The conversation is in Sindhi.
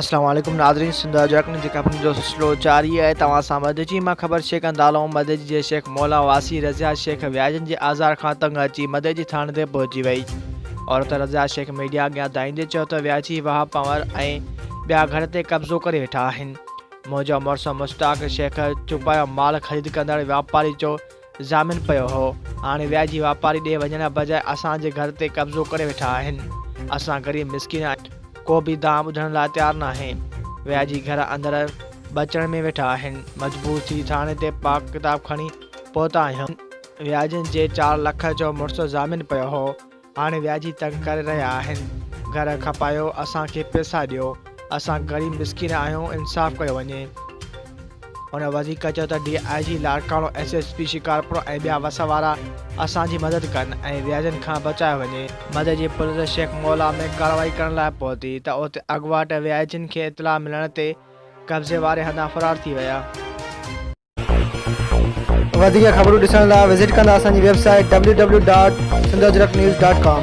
السلام عليڪم ناظرين سنڌ اجرڪن جي خبرن جو سلسلو جاري آهي توهان سان مدجي مان خبر شيخ اندالو مدجي جي شيخ مولا واسي رضيا شيخ وياجن جي آزار کان تنگ اچي مدجي ٿاڻي تي پهچي وئي عورت رضيا شيخ ميڊيا اڳيان دائيندي چيو ته وياجي واهه پنور ۽ ٻيا گهر تي قبضو ڪري ويٺا آهن منهنجو مڙس مشتاق شيخ چوپايو مال خريد ڪندڙ واپاري جو ضامن پيو هو، هاڻي وياجي واپاري ڏي وڃڻ بجاء اسان جي گهر تي قبضو ڪري ويٺا آهن. اسان غريب مسڪين آهيون، ڪو به دانهن ٻڌڻ لاء تيار ناهي. وياجي گهر اندر ٻچڙ ۾ ويٺا آهن، مجبور ٿي ٿاڻي تي پاڪ ڪتاب کڻي پهتا آهيون. وياجين جي چار لک جو مڙس ضامن پيو هو، هاڻي وياجي تنگ ڪري رهيا آهن گهر کپايو اسان کي پيسا ڏيو اسان غريب مسڪين آهيون انصاف ڪيو وڃي ان وڌيڪ چيو ته D I G Larkana S S P Shikarpur ۽ ٻيا وس وارا اسان جي مدد ڪن ۽ وياجن کان بچايو وڃي مدد جي پوليس شيخ مولا ۾ ڪارروائي ڪرڻ لاء پهتي ته اتي اڳواٽ وياجين کي اطلاع ملڻ تي قبضي واري هنڌان فرار ٿي ويا وڌيڪ خبرون ڏسڻ لاء وزٽ ڪندا اسان جي website W W dot Sindh Ajrak news dot ڪام